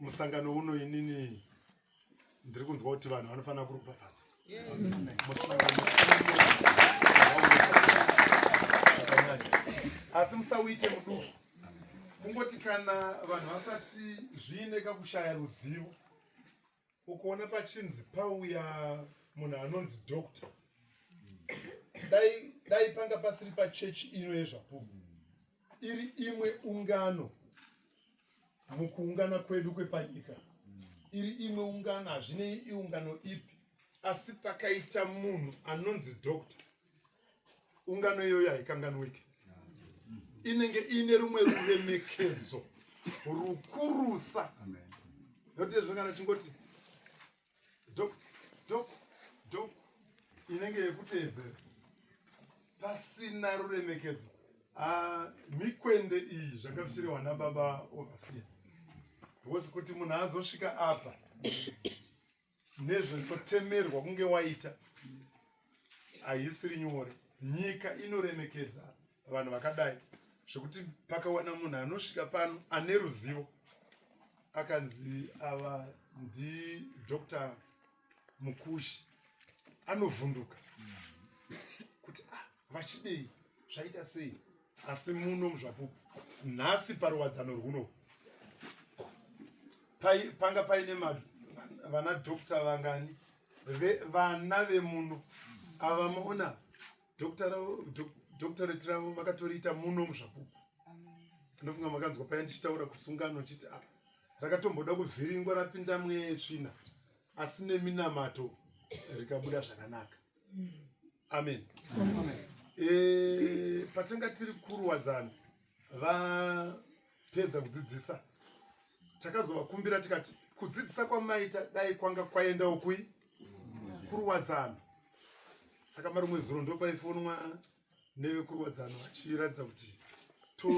musangano uno inini ndiri kunzwa kuti vanhu vanofanira kuropafadzwa asi musauite muduku kungoti kana vanhu vasati zviine kakushaya ruzivo ukuona pachinzi pauya munhu anonzi dokta dai dai panga pasiri pachechi ino yezvapupu iri imwe ungano mukuungana kwedu kwepanyika iri imwe ungano hazvinei iungano ipi asi pakaita munhu anonzi doctor ungano iyoyo haikanganwike inenge iine rumwe ruremekedzo rukurusa notizvongana chingoti dok dok dok inenge yekuteedzera pasina ruremekedzo ah, mikwende iyi zvanga zvichirehwa nababa overseer because kuti munhu azosvika apa nezvekutemerwa kunge waita haisiri nyore nyika inoremekedza vanhu vakadai zvekuti pakawana munhu anosvika pano ane ruzivo akanzi ava ndi dr mukushi anovhunduka kuti ah, vachidei zvaita sei asi muno muzvapupu nhasi paruwadzano rwuno panga paine vana dr vangani vana vemuno ava maona doctorate ravo vakatoriita muno muzvapupu ndofunga makanzwa paya ndichitaura kusungano chiti apa ah, rakatomboda kuvhiringwa rapinda mweya yetsvina asi neminamato rikabuda zvakanaka amen e, patanga tiri kuruwadzana pedza kudzidzisa takazovakumbira tikati kudzidzisa kwamaita dai kwanga kwaendawo kui kuruwadzano saka marumwe zuro ndopaifonwa nevekuruwadzano vachiratidza kuti to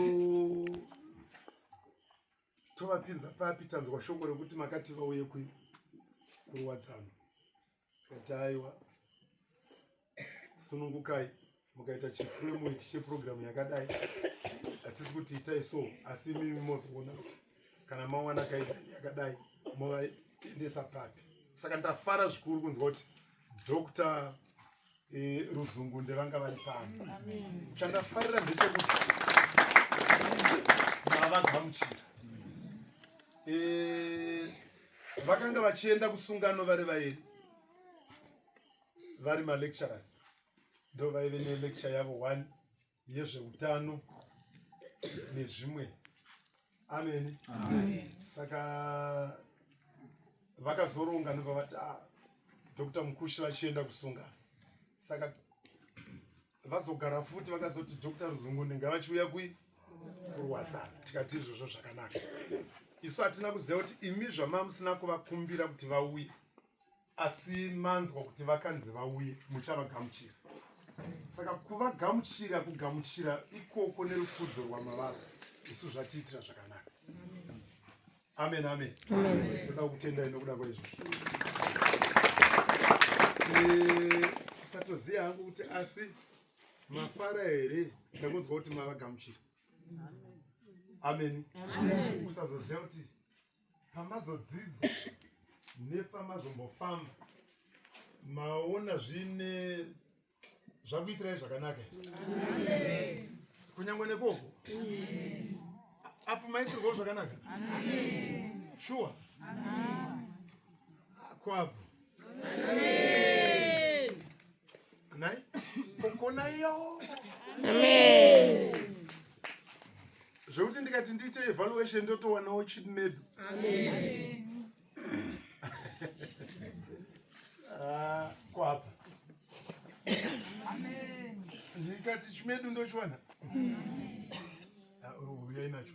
tovapinza papi tanzwa shoko rekuti makati vauye kui kuruwadzano Kataiwa sunungukai mukaita chiframework cheprogramu yakadai hatisi kuti itai so asi imimi mozoona kuti kana mawana kaidani yakadai movaendesa papi saka ndafara zvikuru kunzwa kuti dr e, ruzungu ndevanga vari pano chandafarira ndechekuti mavagamuchira e, vakanga vachienda kusungano vari vairi vari malecturers ndo vaive nelecture yavo one yezveutano nezvimwe ameni saka vakazoronga ndobva vati ah, dr mukushi vachienda kusungana saka vazogara futi vakazoti dr ruzungunde ngavachiuya kui kurwadzana tikati izvozvo zvakanaka isu hatina kuziva kuti imi zvamamusina kuvakumbira kuti vauye asi manzwa kuti vakanzi vauye muchavagamuchira saka kuvagamuchira kugamuchira ikoko nerukudzo rwamavara isu zvatiitira zvakanaka amen amen toda kutendai nokuda kwaizvozvo eh, satoziva hangu kuti asi mafara here ndakunzwa kuti mavagamuchira amen usazoziva kuti pamazodzidza nepamazombofamba maona zvine zvakuitirai zvakanaka kunyange nekoko apo maitirwawo zvakanaka shuwa kwapo nhai kokona iyo zvekuti ndikati ndiite evaluation ndotowanawo chid medu ah, kwapa ndikati chimedu ndochiwana uyai ah, oh, nacho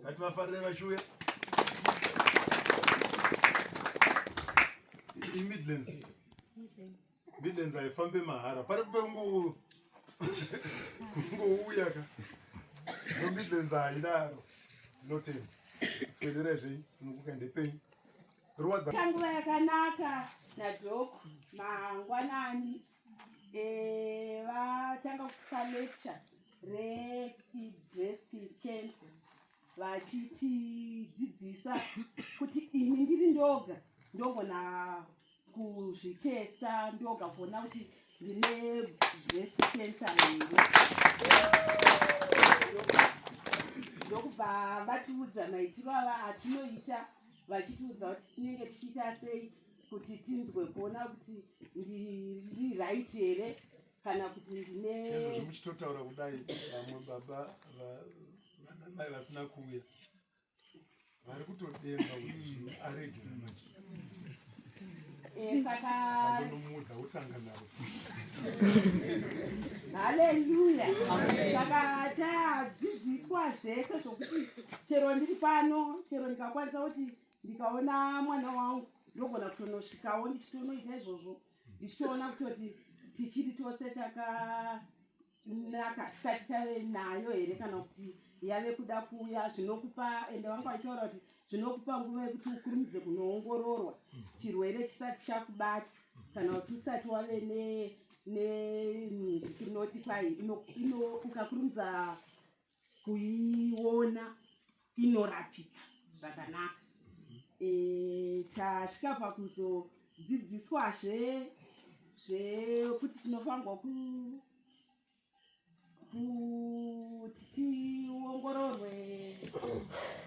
ngativafarire vachiuya imidlands midlands haifambe mahara pari pengou kungouya ka no midlands haidaro tinotenda sikuenderai zvei sinokuka ndepei ruwadza kanguva yakanaka nadhoko mangwanani Eh, vatanga kupa lecture reidresticant vachitidzidzisa kuti ini ndiri ndoga ndogona kuzvitesta ndoga kuona kuti ndine breast cancer here ndokubva vatiudza maitiro ava atinoita vachitiudza kuti tinenge tichiita sei kuti tinzwe kuona kuti ndiri right here kana kuti ndine zvomuchitotaura kudai vamwe baba vanamai vasina kuuya vari kutodemba kuti zvinhu aregera manje sakanomuudza wotanga navo haleluya saka tadzidziswa zvese zvokuti chero ndiri pano chero ndikakwanisa kuti ndikaona mwana wangu ndogona kutonosvikawo ndichitonoita izvozvo ndichitoona kutoti tichiri tose takanaka tisati tave nayo here kana kuti yave kuda kuuya zvinokupa ende vanga vaitaura kuti zvinokupa nguva yekuti ukurumidze kunoongororwa chirwere chisati chakubati kana kuti usati wave ne netinoti kwai ukakurumidza kuiona inorapika zvakanaka eh, tasvika pakuzodzidziswazve zvekuti tinofanirwa ku kuti tiongororwe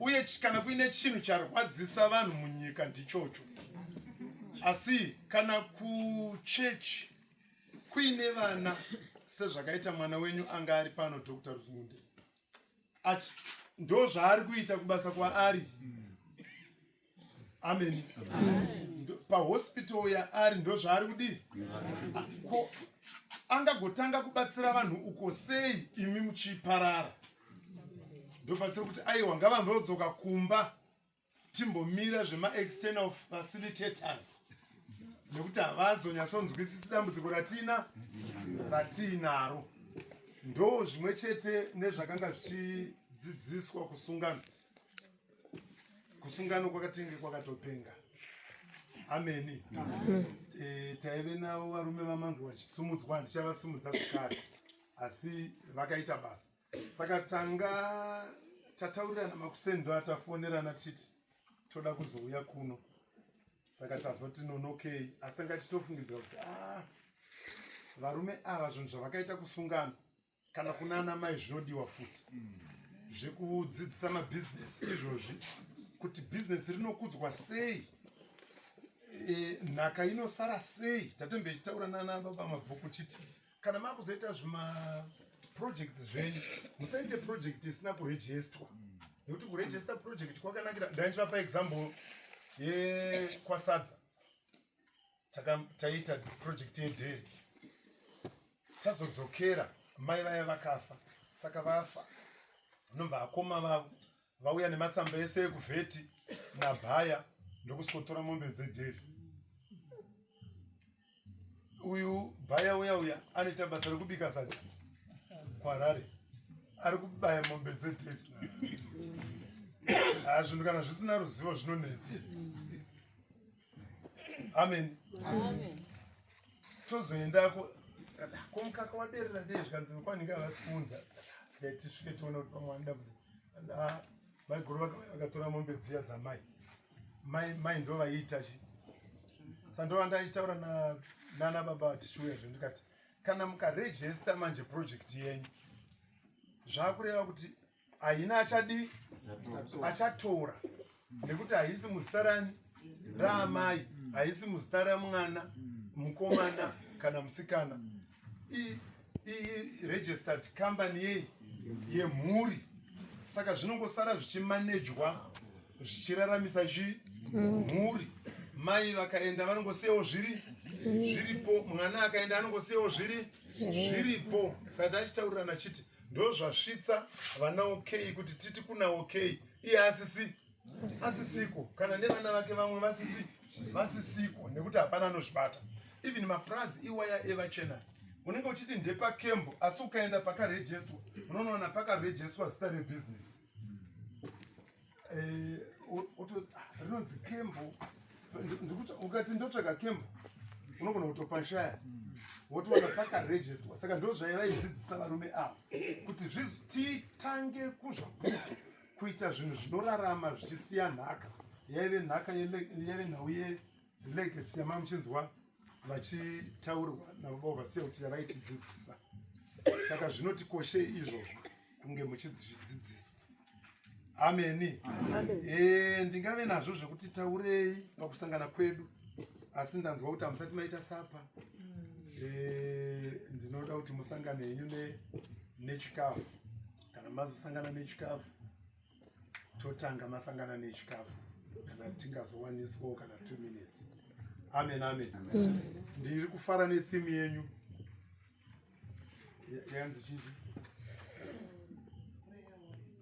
uye kana kuine chinhu charwadzisa vanhu munyika ndichocho asi kana kuchechi kuine vana sezvakaita mwana wenyu anga ari pano dr ruzunde ndo zvaari kuita kubasa kwaari mm. ameni pahospital yaari ndozvaari kudii ko angagotanga kubatsira vanhu uko sei imi muchiparara ndopatsiri kuti aiwa ngavambodzoka kumba timbomira zvemaexternal facilitators nekuti havazonyatsonzwisisi dambudziko ratina ratiinaro ndo zvimwe chete nezvakanga zvichidzidziswa kusungano kusungano kwakatenge kwakatopenga ameni eh, taive navo varume vamanzi vachisumudzwa ndichavasimudza zvekare asi vakaita basa saka tanga tataurirana makuseni ndo atafonerana tichiti toda kuzouya kuno saka tazoti nonokei asi tanga tichitofungidzira kuti a ah, varume ava zvinhu zvavakaita kusungana kana kuna ana mai zvinodiwa futi mm. zvekudzidzisa mabhizinesi izvozvi kuti bhizinesi rinokudzwa sei e, nhaka inosara sei tatembe ichitaura nana baba mabhuku chiti kana makuzoita zvimaprojects zvenyu musaite project isina kurejestwa nekuti kurejesta project kwakanakira ndaichivapa example yekwasadza taita project yedheri tazodzokera mai vaya vakafa saka vafa nobva akoma vavo vauya nematsamba ese ekuvheti nabhaya ndokusikotora mombe dzedheri uyu bhaya uya uya anoita basa rekubika sadza kwarare ari kubaya mombe dzedheri hazvinhu kana zvisina ruzivo zvinonetsi amen tozoendako ko mukaka waderera dei zvikanzi kwanenge havasi kuunza tisvike tione kuti pamwe anoda kuti ah, maiguru vakauya vakatora mombe dziya dzamai mai mai ndo vaiita chi sandova ndaichitaura nana baba vatishiuya zve ndikati kana mukarejesta manje project yenyu zvakureva kuti haina achadii achatora nekuti haisi muzita rani raamai haisi muzita ramwana mukomana kana musikana iregistered company yei yemhuri saka zvinongosara zvichimanejwa zvichiraramisa chi mhuri mai vakaenda vanongosiyawo zviri zviripo mwana akaenda anongosiyawo zviri zviripo saka tachitaurirana chiti ndozvasvitsa vana okay kuti titi kuna okay iye asisi asisiko kana nevana vake vamwe vasisi vasisiko nekuti hapana anozvibata even mapurazi iwaya evachena unenge uchiti ndepakembo asi ukaenda pakarejestwa unonoona pakarejeswa zita rebusiness eh, rinonzi kembo ukati ndotsvaga kembo unogona kutopashaya wotoona pakarejistwa saka ndo zvaivaidzidzisa varume ava kuti titange kuzvabuka kuita zvinhu zvinorarama zvichisiya nhaka yaive nhaka yaive nhau legacy yamamuchinzwa vachitaurwa nababa ovasiya kuti yavaitidzidzisa saka zvinotikoshei izvozvo kunge muchidzidzidziswa ameni eh, ndingave nazvo zvekuti taurei pakusangana kwedu asi ndanzwa kuti hamusati maita sapa eh, ndinoda kuti musangane henyu nechikafu kana mazosangana nechikafu totanga masangana nechikafu kana tingazowaniswawo kana two minutes amen amen mm. ndiri kufara netheme yenyu yanzi chii